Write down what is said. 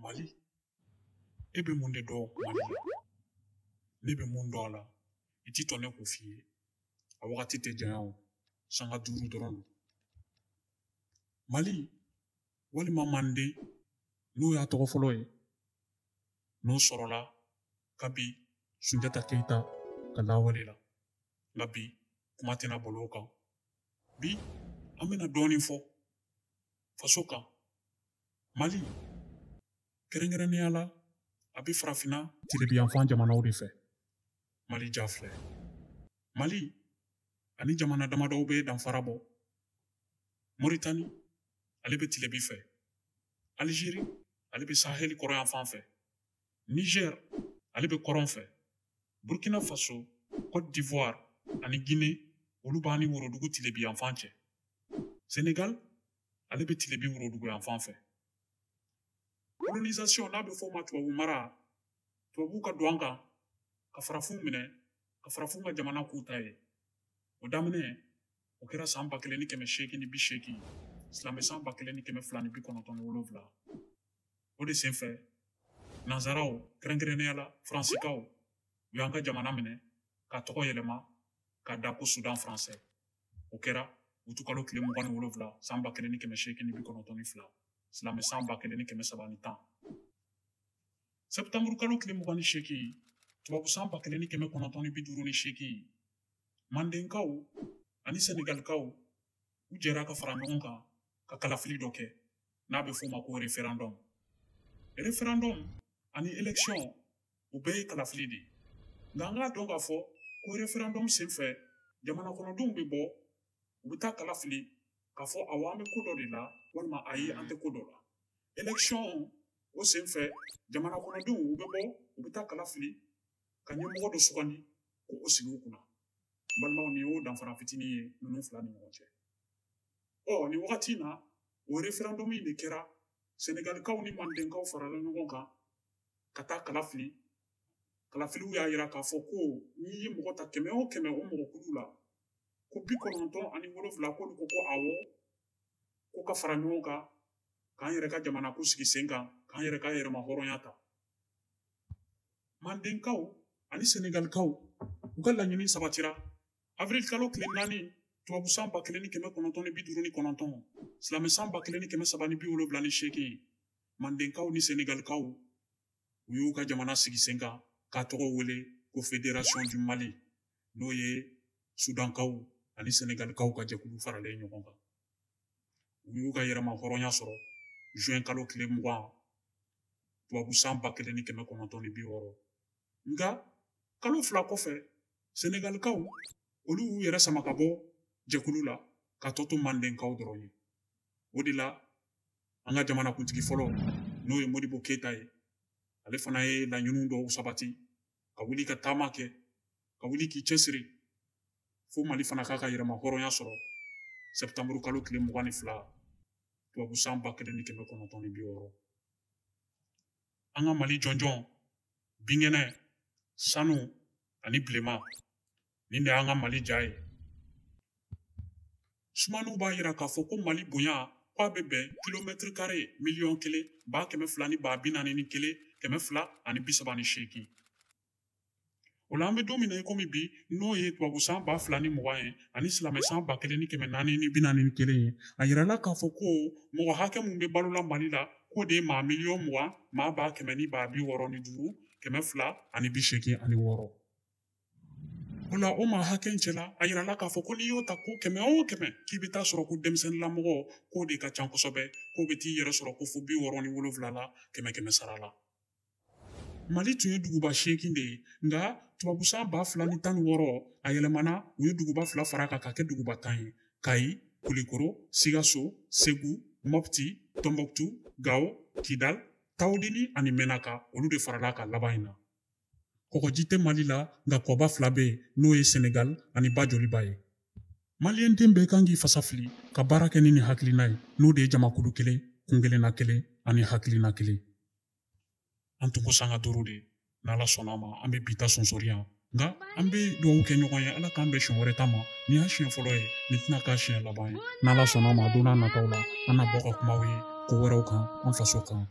Mali e bɛ mun de dɔn Mali la ne bɛ mun dɔn a la i t'a to ne k'o f'i ye a wagati tɛ janya o sanga duuru dɔrɔn don Mali walima Manden n'o y'a tɔgɔ fɔlɔ ye n'o sɔrɔla kabi sunjata keyita ka lawale la nka bi kuma tɛna bol'o kan bi an bɛna dɔɔnin fɔ faso kan mali kɛrɛnkɛrɛnnenya la a bɛ farafinna tilebiyanfan jamanaw de fɛ mali ja filɛ mali ani jamana damadɔw bɛ danfara bɔ moritani ale bɛ tilebi fɛ alizeri ale bɛ saheli kɔrɔyanfan fɛ niger ale bɛ kɔrɔn fɛ burkina faso cote d'ivoire ani guinée olu b'an ni worodugu tilebi yanfan cɛ senegal ale bɛ tilebi worodugu yanfan fɛ colonisation n'a bɛ fɔ o ma tubabu mara tubabu ka don an kan ka farafinw minɛ ka farafinw ka jamana k'u ta ye o daminɛ o kɛra san ba kelen ni kɛmɛ seegin ni bi seegin silamɛ san ba kelen ni kɛmɛ fila ni bi kɔnɔntɔn ni wolonwula o de senfɛ nansaraw kɛrɛnkɛrɛnnenya la faransikaw u y'an ka jamana minɛ k'a tɔgɔ yɛlɛma k'a da ko sudan faransɛ o kɛra utikalo tile mugan ni wolonwula san ba kelen ni kɛmɛ seegin ni bi kɔnɔntɔn ni fila silamɛ san ba kelen ni kɛmɛ saba ni tan sɛptanburukalo tile mugan ni seegin tubabu san ba kelen ni kɛmɛ kɔnɔntɔn ni bi duuru ni seegin mandenkaw ani sɛnɛgalikaw u jɛra ka fara ɲɔgɔn kan ka kalafili dɔ kɛ n'a bɛ f'o ma ko referendum referendum ani election u bɛɛ ye kalafili de ye nka an k'a dɔn k'a fɔ ko referendum senfɛ jamana kɔnɔdenw bɛ bɔ u bɛ taa kala fili k'a fɔ awɔ an bɛ ko dɔ de la walima ayi an tɛ ko dɔ la election o senfɛ jamana kɔnɔdenw u bɛ bɔ u bɛ taa kala fili ka ɲɛmɔgɔ dɔ sugandi k'o sigi u kunna n balimaw nin y'o danfara fitinin ye ninnu fila ni ɲɔgɔn cɛ ɔ nin wagati in na o referendum in de kɛra senegalikaw ni mandenkaw farala ɲɔgɔn kan ka taa kala fili kalafiliw y'a yira k'a fɔ ko n'i ye mɔgɔ ta kɛmɛ o kɛmɛ o mɔgɔ kulu la ko bi kɔnɔntɔn ani wolonfila k'olu ko ko awɔ ko ka fara ɲɔgɔn kan k'an yɛrɛ ka jamana ko sigi sen kan k'an yɛrɛ ka yɛrɛmahɔrɔnya ta mandenkaw ani senegalikaw u ka laɲini sabatira avril kalo tile naani tubabu san ba kelen ni kɛmɛ kɔnɔntɔn ni bi duuru ni kɔnɔntɔn silamɛ san ba kelen ni kɛmɛ saba ni bi wolonwula ni seegin mandenkaw ni senegalikaw u y'u ka jamana sigi sen kan k'a tɔgɔ wele ko fédération du mali n'o ye sudankaw ani senegalikaw ka jɛkulu faralen ɲɔgɔn kan u y'u ka yɛrɛmahɔrɔnya sɔrɔ juin kalo tile mugan tubabu san ba kelen ni kɛmɛ kɔnɔntɔn ni bi wɔɔrɔ nka kalo fila kɔfɛ senegalikaw olu y'u yɛrɛ sama ka bɔ jɛkulu la k'a tɔ to mandenkaw dɔrɔn ye o de la an ka jamanakuntigi fɔlɔ n'o ye modibo keyita ye ale fana ye laɲiniw dɔw sabati ka wuli ka taama kɛ ka wuli k'i cɛsiri fo mali fana k'a ka yɛrɛmahɔrɔnya sɔrɔ sɛptanburu kalo tile mugan ni fila tubabu san ba kelen ni kɛmɛ kɔnɔntɔn ni bi wɔɔrɔ an ka mali jɔnjɔn binkɛnɛ sanu ani bilema Nin de y'an ka Mali ja ye. Sumaniw b'a jira k'a fɔ ko Mali bonya k'a bɛ bɛn kilomɛtiri kare miliyɔn kelen ba kɛmɛ fila ni ba bi naani ni kelen kɛmɛ fila ani bi saba ni seegin. O la an bɛ don min na i komi bi n'o ye tubabu san ba fila ni mugan ye ani silamɛ san ba kelen ni kɛmɛ naani ni bi naani ni kelen ye a yirala k'a fɔ ko mɔgɔ hakɛ min bɛ balola Mali la k'o de ye maa miliyɔn mugan maa ba kɛmɛ ni ba bi wɔɔrɔ ni duuru kɛmɛ fila ani bi seegin ani wɔɔrɔ. O la o maa hakɛ cɛla a yirala k'a fɔ ko n'i y'o ta ko kɛmɛ o kɛmɛ k'i bɛ t'a sɔrɔ ko denmisɛnninlamɔgɔ k'o de ka ca kosɛbɛ k'o bɛ t'i yɛrɛ sɔrɔ ko fo bi wɔɔrɔ ni wolonwula la kɛmɛ kɛmɛ sara la mali tun ye duguba seegin de ye nka tubabu san ba fila ni tan ni wɔɔrɔ a yɛlɛmana u ye duguba fila fara a kan k'a kɛ duguba tan ye kayi kulikoro sigaso segu mopti tɔnbukutu gawo kidal tawudini ani mɛnaka olu de farala a kan laban in na kɔgɔji tɛ mali la nka kɔba fila bɛ yen n'o ye senegal ani ba joliba ye maliyɛn den bɛɛ kan k'i fasa fili ka baara kɛ ni nin hakilina ye n'o de ye jamakulu kelen kuntilenna kelen ani hakilina kelen an tun ko sanga duuru de n'ala sɔnna a ma an bɛ bi ta sonsori yan nka an bɛ dugawu kɛ ɲɔgɔn ye ala k'an bɛn siɲɛ wɛrɛ ta ma nin y'a siɲɛ fɔlɔ ye nin tɛna k'a siɲɛ laban ye n'ala sɔnna a ma don nataw la an na bɔ ka kuma aw ye ko wɛrɛw kan an faso kan